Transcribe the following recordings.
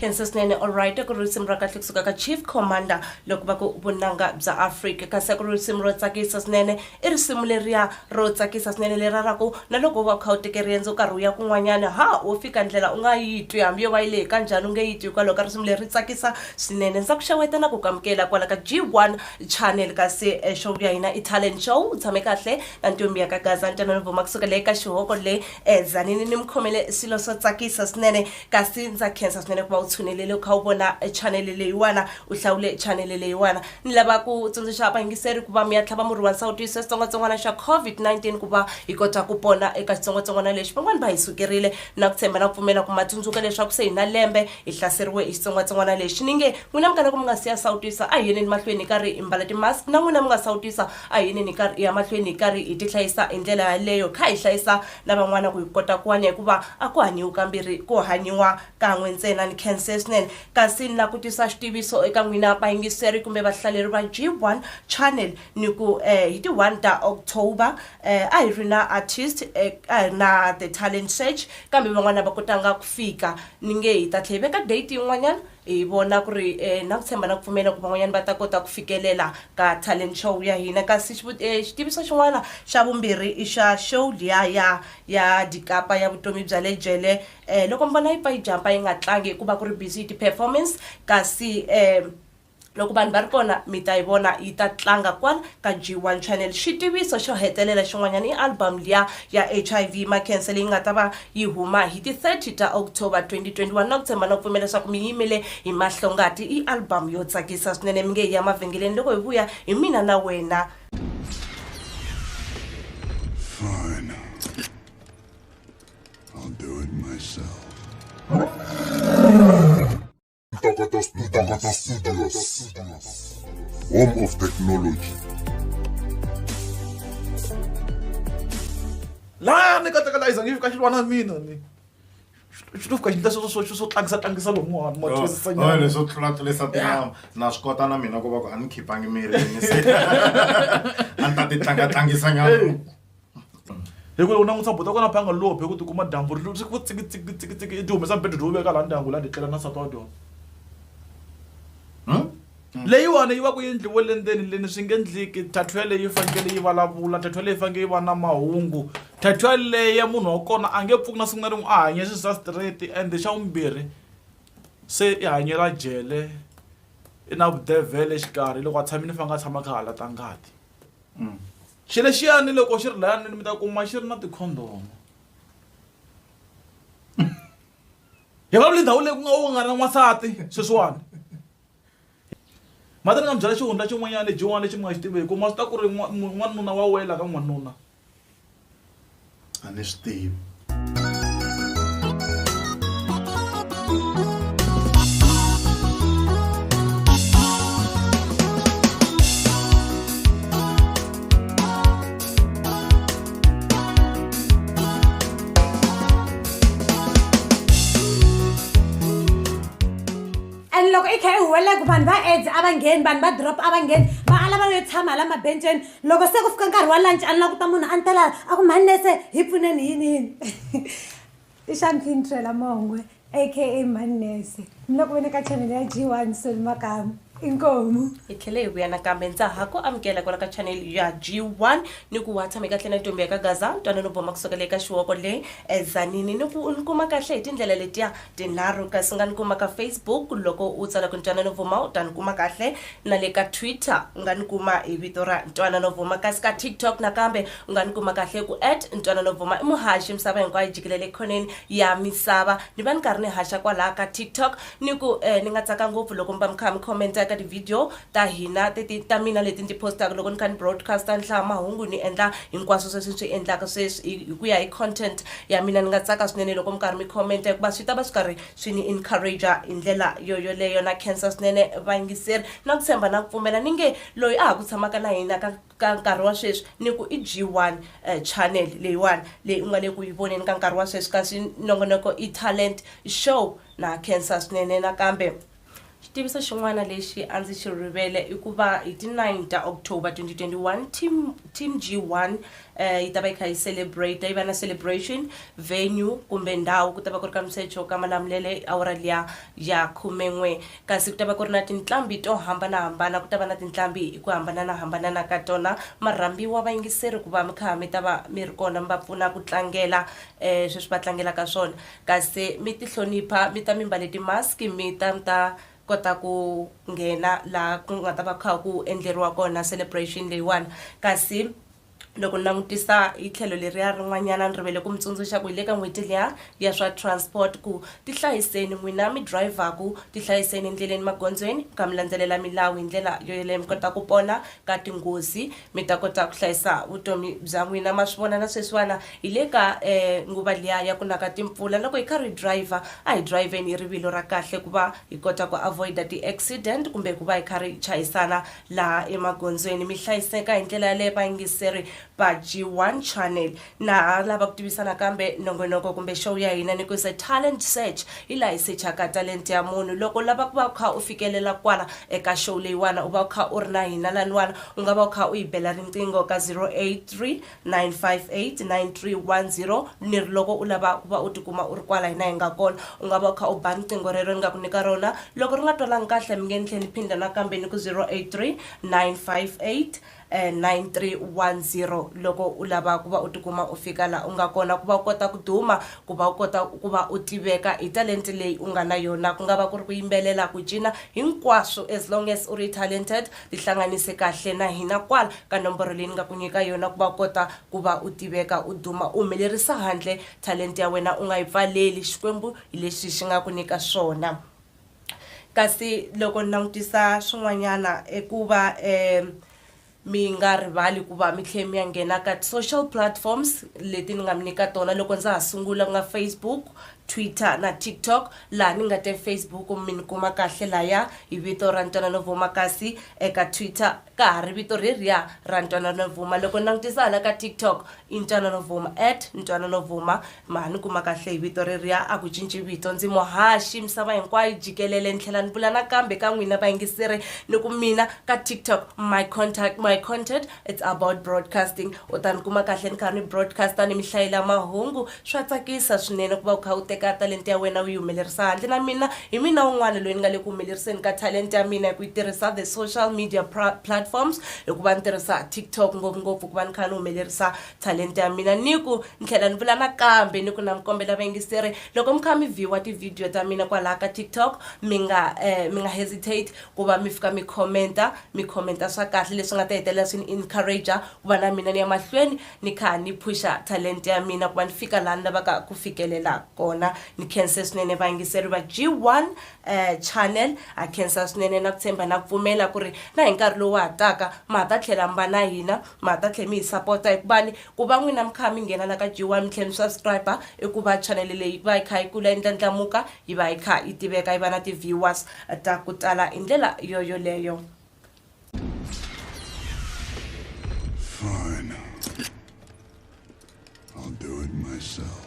khensa swinene allright ku ri risimu ra kahle kusuka ka chief commander loko va ku vunanga bya afrika kasi ku ri risimu ro tsakisa swinene i risimu leriya ro tsakisa swinene lera ra ku na loko va kha u teke riendzo nkarhi wu ya kun'wanyana ha wo fika ndlela u nga yi twi hambi yo va yi lehe kanjhani u nge yi twi hikwalaho ka risimu leri ri tsakisa swinene ndza ku xeweta na ku kamukela kwala ka g one channel kasi eh, show ya hina i talent show u tshame kahle na ntombi ya ka gaza ntanani vuma kusuka leyi ka xihoko le E Tzaneen ni mukhomele swilo swo tsakisa swinene kasi ndza khensa swinene ku va u tshunelele u kha u vona chanele leyiwana u hlawule chanele leyiwana ni lava ku tsundzuxa vayingiseri ku va mi ya tlhava murhi wa nsawutiso ya xitsongwatsongwana xa covid-19 ku va hi kota ku pona eka xitsongwatsongwana lexi van'wani va hi sukerile na ku tshemba na ku pfumela ku ma tsundzuka leswaku se hi na lembe hi hlaseriwe hi xitsongwatsongwana lexi ni nge n'wina mi kalaka mi nga si ya sawutisa a hi yeleni mahlweni hi karhi hi mbala ti-mask na n'wina mi nga sawutisa A hi yineni hi karhi hi ya mahlweni hi karhi hi tihlayisa hi ndlela yaleyo, kha hi hlayisa na van'wana ku hi kota ku hanya, hikuva a ku hanyiwi kambirhi, ku hanyiwa kan'we ntsena. Ni khense swinene, kasi ni lava ku tisa xitiviso eka n'wina vayingiseri kumbe vahlaleri va G1 Channel ni ku hi ti one ta October a hi ri na artist a hi ri na The Talent Search kambe van'wana a va kotanga ku fika ni nge hi ta tlhe hi veka date yin'wanyana. Hi vona ku ri na ku tshemba na ku pfumela ku van'wanyana va ta kota ku fikelela ka talent show ya hina. Kasi xitiviso xin'wana xa vumbirhi i xa show liya ya ya Dikapa ya vutomi bya le jele loko mi vona yi pfa yi jump-a yi nga tlangi hikuva ku ri busy hi ti-performance kasi . Loko vanhu va ri kona, mi ta yi vona yi ta tlanga kwala ka G1 Channel. Xitiviso xo hetelela xin'wanyana i album liya ya HIV Makhensa leyi nga ta va yi huma hi ti 30 ta October 2021. Na ku tshemba na ku pfumela leswaku mi yimele hi mahlongati. I album yo tsakisa swinene, mi nge hi ya mavhengeleni loko hi vuya hi mina na wena. Fine. I'll do it myself. Ntokoto Studios. Home of Technology. laya ni katekela iza ngi fika xilwana mina ni xi to fika xi ndla swo swo tlangisa tlangisa lomu wani ma twisisa nyana leswo tlulatlulisa tinama na swi kota na mina ku va ku a ni khipangi mirini se a ni ta ti tlangatlangisa nyana hikuva u langutisa buti wa kona phanga lobhe ku tikuma dyambu ri ri ku tsikitsikitsikitsiki i ti humesa mbedwa lowu veka laha ndyangu laha titlela na nsati wa dyona leyiwani yi va ku yi endliwe le ndzeni leni swi nge endleki thathwa yeleyo yi fanekele yi vulavula thathwa leyi fanekele yi va na mahungu thathwa leya munhu wa kona a nge pfuki na siku na rin'we a hanye swi sa straight and xa vumbirhi se i hanyela jele i na vudevhele exikarhi loko a tshami ni fanekele a tshama a kha a halata ngati. Xilo lexiyani loko xi ri laya ndlwini mi ta kuma xi ri na tikhondomu hi vulavula ndhawu leyi ku nga u nga na n'wansati sweswiwani mhani ni nga mi byela xihundla xin'wanyana lexin'wana lexi mi nga xi tiveki u ma swi tiva ku ri n'wanuna wa wela ka n'wanuna. a ni swi tivi and loko i kha i huwelela ku vanhu va aids a va ngheni vanhu va drop a va ngheni va ala va yo tshama hala mabenceni loko se ku fika nkarhi wa lunch a ni la ku ta munhu a ni tela a ku mhani nese hi pfuneni yini yini i xa ni fintrela mongwe aka mhani nese ni loko vene ka channel ya g one soli makamu inkomu hi tlhele hi vuya nakambe ndza ha ku amukela kwala ka channel ya g one ni ku wa tshame kahle na ntombi ya ka gaza ntwanano boma kusukela eka xiwoko le ezanini ni ku ni kuma kahle hi tindlela letiya tinharhu kasi nga ni kuma ka Facebook loko u tsala ku ntwanano vuma u ta ni kuma kahle na le ka Twitter u nga ni kuma hi vito ra ntwanano vuma kasi ka TikTok nakambe u nga ni kuma kahle ku at ntwanano vuma i muhaxi misava hinkwayo jikilele khoneni ya misava ni va ni karhi ni haxa kwalaha ka TikTok ni ku eh, ni nga tsaka ngopfu loko mi va mi kha mi commenta ka ti-video ta hina ti ti ta mina leti ni ti postaka loko ni kha ni broadcaster ni hlaya mahungu ni endla hinkwaswo sweswi ni swi endlaka sweswi hi hi ku ya hi content ya mina ni nga tsaka swinene loko mi karhi mi commenta hikuva swi ta va swi karhi swi ni encourage hi ndlela yo yoleyo na cancer swinene vayingiseri na ku tshemba na ku pfumela ni nge loyi a ha ku tshamaka na hina ka ka nkarhi wa sweswi ni ku i g one um channel leyiwani leyi u nga le ku yi voneni ka nkarhi wa sweswi kasi nongonoko i talent show na cancer swinene nakambe Xitiviso xin'wana lexi a ndzi xi rivele i ku va hi ti 9 ta October 2021 team, team G1 eh, yi ta va yi kha yi celebrate yi va na celebration venue kumbe ndhawu ku ta va ku ri ka msecho ka malamulele awara liya ya khumen'we kasi ku ta va ku ri na tinqambi to hambanahambana ku ta va na tinqambi hi ku hambananahambanana ka tona marhambiwa vayingiseri ku va mi kha mi ta va mi ri kona mi va pfuna ku tlangela eh, sweswi va tlangelaka swona Kasi mi ti hlonipha, mi ta mi mbale ti mask, mi ta mi ta kota ku nghena laha ku nga ta va ku kha ku endleriwa kona celebration leyiwani. Kasi loko ni langutisa hi tlhelo leriya rin'wanyana ni rivele ku mi tsundzuxa ku hi le ka n'hweti liya ya swa transport ku ti hlayiseni n'wina mi drive-ku ti hlayiseni endleleni magondzweni mi kha mi landzelela milawu hi ndlela yo yeleyo mi kota ku pona ka tinghozi. Mi ta kota ku hlayisa vutomi bya n'wina. Ma swi vona na sweswiwana hi le ka nguva liya ya ku na ka timpfula. Loko hi karhi hi driver a hi drivheni hi rivilo ra kahle ku va hi kota ku avoid-a ti-accident kumbe ku va hi karhi hi chayisana laha emagondzweni. Mi hlayiseka hi ndlela yaleyo vayingiseri va G1 Channel. Na ha lava ku tivisa nakambe nongonoko kumbe show ya hina ni ku se talent search hi laha hi sechaka talent ya munhu loko u lava ku va u kha u fikelela kwala eka show leyiwana u va u kha u ri na hina laniwana u nga va u kha u yi bela riqingho ka 083 958 9310 ni ri loko u lava ku va u tikuma u ri kwala hina hi nga kona u nga va u kha u ba riqingho rero ni nga ku nyika rona loko ri nga twalangi kahle mi nge ni tlhe ni phinda nakambe ni ku 083 958 9310 loko u lava ku va u tikuma u fika laha u nga kona ku va u kota ku duma ku va u kota ku va u tiveka hi talente leyi u nga na yona ku nga va ku ri ku yimbelela ku cina hinkwaswo as long as u ri talented tihlanganise kahle na hina kwala ka nomboro leyi ni nga ku nyika yona ku va u kota ku va u tiveka u duma u humelerisa handle talente ya wena u nga yi pfaleli xikwembu hi leswi xi nga ku nyika swona Kasi loko ni langutisa swin'wanyana i ku va mi nga rivali ku va mi tlhela mi ya nghena ka ti-social platforms leti ni nga mi nyika tona loko ndza ha sungula ku nga Facebook, Twitter na TikTok laha ni nga te Facebook mi ni kuma kahle laya hi vito ra Ntwanano Bvuma kasi eka Twitter ka ha ri vito reriya ra Ntwanano Bvuma loko ni langutisa hala ka TikTok i Ntwanano Bvuma at Ntwanano Bvuma ma ni kuma kahle hi vito reriya a ku cinci vito ndzi muhaxi misava hinkwayo jikelele ni tlhela ni vula nakambe ka n'wina vayingiseri ni ku mina ka tiktok my contact my content it's about broadcasting u ta ni kuma kahle ni kha ni broadcaster ni mi hlayela mahungu swa tsakisa swinene ku va u kha u teka talenta ya wena u yi humelerisa handle na mina hi mina un'wana loyi ni nga le ku humeleriseni ka talenta ya mina hi ku yi tirhisa the social media pra- platforms hikuva ni tirhisa tiktok ngopfungopfu ku va ni kha ni humelerisa talenta ya mina ni ku ni tlhela ni vula nakambe ni ku na mi kombela vayingiseri loko mi kha mi viewa tivhidiyo ta mina kwalaha ka tiktok mi nga eh, mi nga hesitate ku va mi fika mi commenta mi commenta swa kahle leswi nga ta hetelela swi ni encourager ku va na mina ni ya mahlweni ni kha ni phusha talenta ya mina ku va ni fika laha ni lavaka ku fikelela kona ni khense swinene vayingiseri va g1 um channel ha khensa swinene na ku tshemba na pfumela ku ri na hi nkarhi lowu ha taka ma ha ta tlhela mi va na hina ma ha ta tlhela mi hi sapota hikuva ni ku va n'wina mi kha mi nghena la ka g one mi tlhela mi subscribe i ku va channel leyi va yi kha yi kula yi ndlandlamuka yi va yi kha yi tiveka yi va na ti-viewers ta ku tala hi ndlela yoyoleyo Fine. I'll do it myself.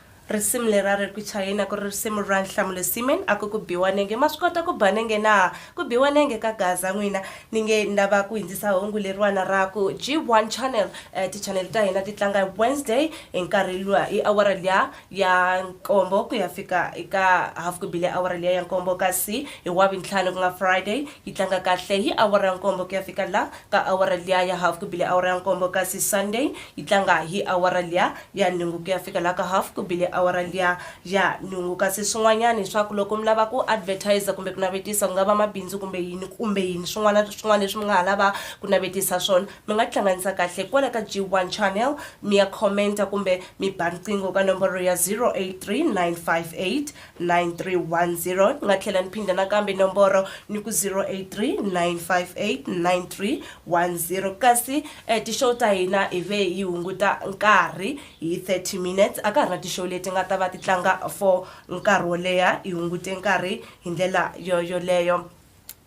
Risimu leri a ri ku chayeni a ku ri risimu ra Nhlamulo Seaman a ku ku biwa nenge ma swi kota ku ba nenge na? Ku biwa nenge ka gaza n'wina ni nge ni lava ku hindzisa hungu leriwana ra ku G1 Channel eh, tichanele ta hina ti tlanga hi Wednesday hi nkarhi luwa hi awara liya ya nkombo ku ya fika eka half ku bile awara liya ya nkombo kasi hi wavuntlhanu ku nga Friday yi tlanga kahle hi awara ya nkombo ku ya fika la ka awara liya ya half ku bile awara ya nkombo kasi Sunday yi tlanga hi awara liya ya nhungu ku ya fika la ka half ku bile awara liya ya nhungu kasi swin'wanyana hi swa ku loko mi lava ku advertiser kumbe ku navetisa ku nga va mabindzu kumbe yini kumbe yini swin'wana swin'wana leswi mi nga ha lava ku navetisa swona mi nga tihlanganisa kahle kwala ka G1 channel mi ya comment-a kumbe mi ba riqingho ka nomboro ya 083958 9310 ni nga tlhela ni phinda nakambe nomboro ni ku 083 958 9310 kasi eh, tishow ta hina hi ve yi hunguta nkarhi hi 30 minutes a ka ha ri na tishow leti nga ta va ti tlanga for nkarhi wo leha hi hungute nkarhi hi ndlela yo yoleyo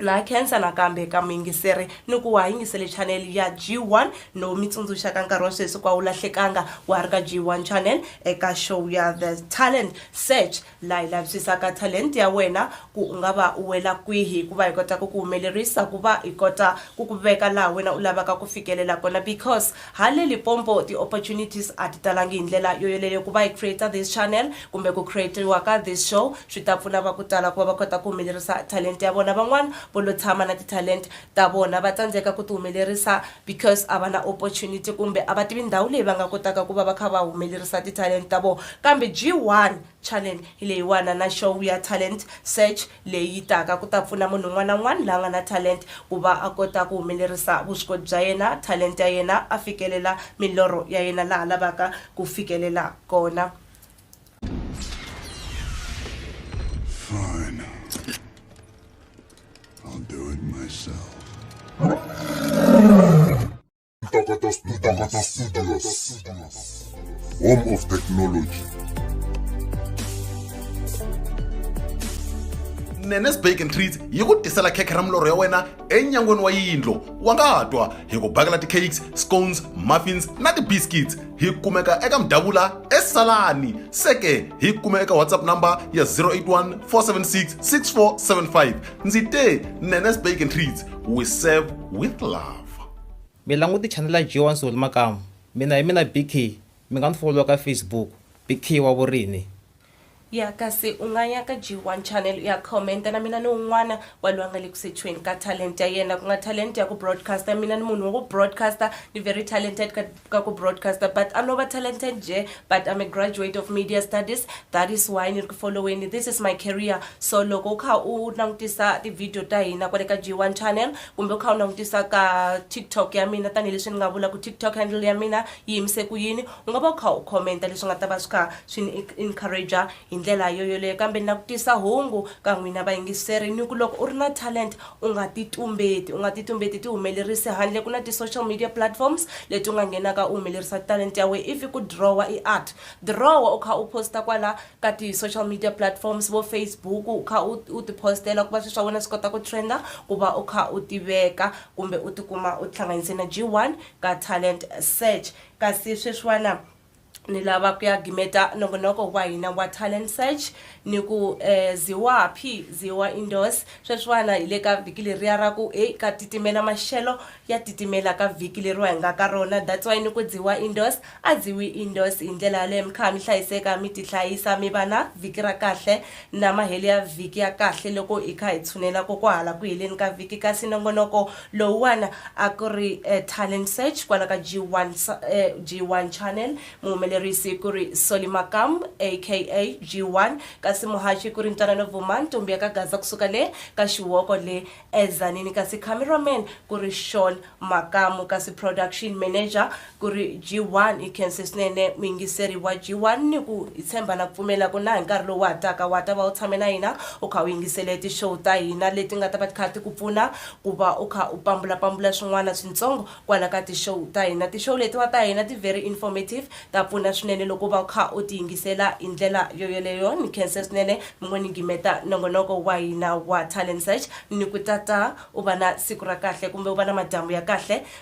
na khensa nakambe ka muyingiseri ni ku wa yingisele channel ya G1 no mi tsundzuxa ka nkarhi wa sweswi kwa wu lahlekanga wa ha ri ka G1 channel eka show ya The Talent Search la hi lavisisaka talent ya wena ku u nga va u wela kwihi ku va hi kota ku ku humelerisa ku va hi kota ku ku veka laha wena u lavaka ku fikelela kona because Hale Lipompo ti opportunities a ti talangi hi ndlela yo yoleyo ku va hi creator this channel kumbe ku createriwa ka this show swi ta pfuna va ku tala ku va va kota ku humelerisa talent ya vona van'wana vo lo tshama na ti talent ta vona va tsandzeka ku ti humelerisa because a va na opportunity kumbe a va tivi ndhawu leyi va nga kotaka ku va va kha va humelerisa ti talent ta vona kambe G1 Channel leyiwana na Show ya Talent Search leyi yi taka ku ta pfuna munhu un'wana na un'wana la nga na talent ku va a kota ku humelerisa vuswikoti bya yena, talent ya yena, a fikelela milorho ya yena laha lavaka ku fikelela kona. Fine. I'll do it myself. Ntokoto Studios. Home of Technology. nenes bake and treats yi ku tisela khekhe ra milorho ya wena enyangweni wa yindlo wa nga twa hi ku bakela ti-cakes scones muffins na ti-biscuits hi kumeka eka mdavula esalani seke hi kume eka whatsapp number ya 081 476 6475 ndzi te nenes bake and treats we serve with love Mi languti chanel ya G1 Soul makamu. Mina hi mina BK, mi nga ni folowa ka Facebook, BK wa Vurini. Ya kasi u nga ya ka G1 Channel u ya comment-a na mina ni un'wana wa loyi a nga le ku sechiweni ka talent ya yena ku nga talent ya ku broadcast-a mina ni munhu wa ku broadcast-a ni very talented ka ka ku broadcaster but a no va talented nje but I'm a graduate of media studies that is why ni ri ku following this is my career so loko u kha u langutisa ti-video ta hina kwale ka G1 channel kumbe u kha u langutisa ka TikTok ya mina tanihileswi ni nga vula ku TikTok handle ya mina yi yimise ku yini u nga va u kha u commenta leswi nga ta va swi kha swi ni encourager hi ndlela yoyoleyo kambe ni langutisa hungu ka n'wina vayingiseri ni ku loko u ri na talent U nga ti tumbeti. U nga ti tumbeti tihumelerisi handle. Ku na ti social media platforms leti u nga nghenaka u humelerisa talenta ya wena. If i ku drawer i art, drawer u kha u post-a kwala ka ti social media platforms vo Facebook u kha u u ti post-ela ku va swilo swa wena swi kota ku trend-a ku va u kha u tiveka kumbe u tikuma u tihlanganise na G one ka talent search. Kasi sweswiwana. ni lava ku ya gimeta nongonoko wa hina wa talent search ni ku eh, ziwaphi ziwa indoors sweswiwana hi le ka vhiki leriya ra ku e ka titimela maxelo ya titimela ka vhiki leriwa hi nga ka rona that's why ni ku dziwa indoors a dziwi indoors hi ndlela yaleyo mi kha mi hlayiseka mi tihlayisa mi va na vhiki ra kahle na mahele ya vhiki ya kahle loko hi kha hi tshunela ko kwahala ku heleni ka vhiki kasi nongonoko Lowuwana a ku ri Talent Search kwala ka G1 sa, eh, G1 Channel. Muhumelerisi ku ri Solly Makam aka G1 kasi muhaxi ku ri Ntwanano Vuma ntombi ya ka Gaza kusuka le ka Xiwoko le eZanini kasi camera man ku ri Shawn Makamu kasi production manager Ku ri G1 i khense swinene muyingiseri wa G1 ni ku hi tshemba na ku pfumela ku na hi nkarhi lowu wa ha taka wa ta va u tshame na hina u kha u yingisele ti show ta hina leti nga ta va ti kha ti ku pfuna ku va u kha u pambula pambula swin'wana swintsongo kwala ka ti show ta hina. Ti show letiwa ta hina ti very informative ta pfuna swinene loko u va u kha u ti yingisela hi ndlela yo yoleyo ni khense swinene mi ngo ni gimeta nongonoko wa hina wa Talent Search ni ku tata u va na siku ra kahle kumbe u va na madyambu ya kahle.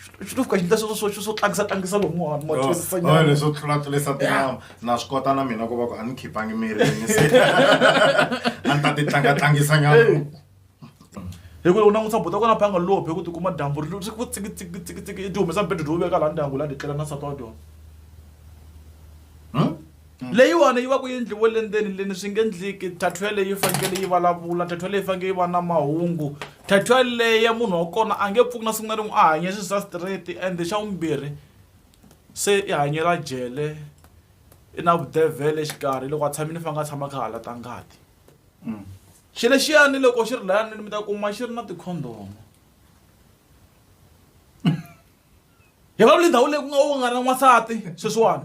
swi to fika xi ndla swo swo tlangisa tlangisa lomu wa ma twisisa oh, nyana oh, leswo tlula tlulisa tinyawa na swi kota na mina ku va ku a ni khipangi mirini se a ni ta ti tlanga tlangisa nyana hi ku u langutisa buta kona phanga lophe ku tikuma dyambu ri ri ku tsiki tsiki tsiki tsiki i ti humesa mbedo dyo veka laha ndyangu laha ndzi tlela na nsati wa dyona hmm? leyiwani yi va ku yi ndliwe le ndzeni leni swi nge ndliki tattoe leyi fanekele yi vulavula tattoe leyi fanekele yi va na mahungu tattoe leyi ya munhu wa kona a nge pfuki na siku na rin'we a hanye swi swa straight and xa vumbirhi se i hanyela jele i na vudevhele exikarhi loko a tshamile ni fanekele a tshama kha hala ta ngati xi lexiyani loko xi ri layanini mi ta kuma xi ri na tikhondomo hi va lindhawu leyi ku nga u nga na n'wansati sweswiwani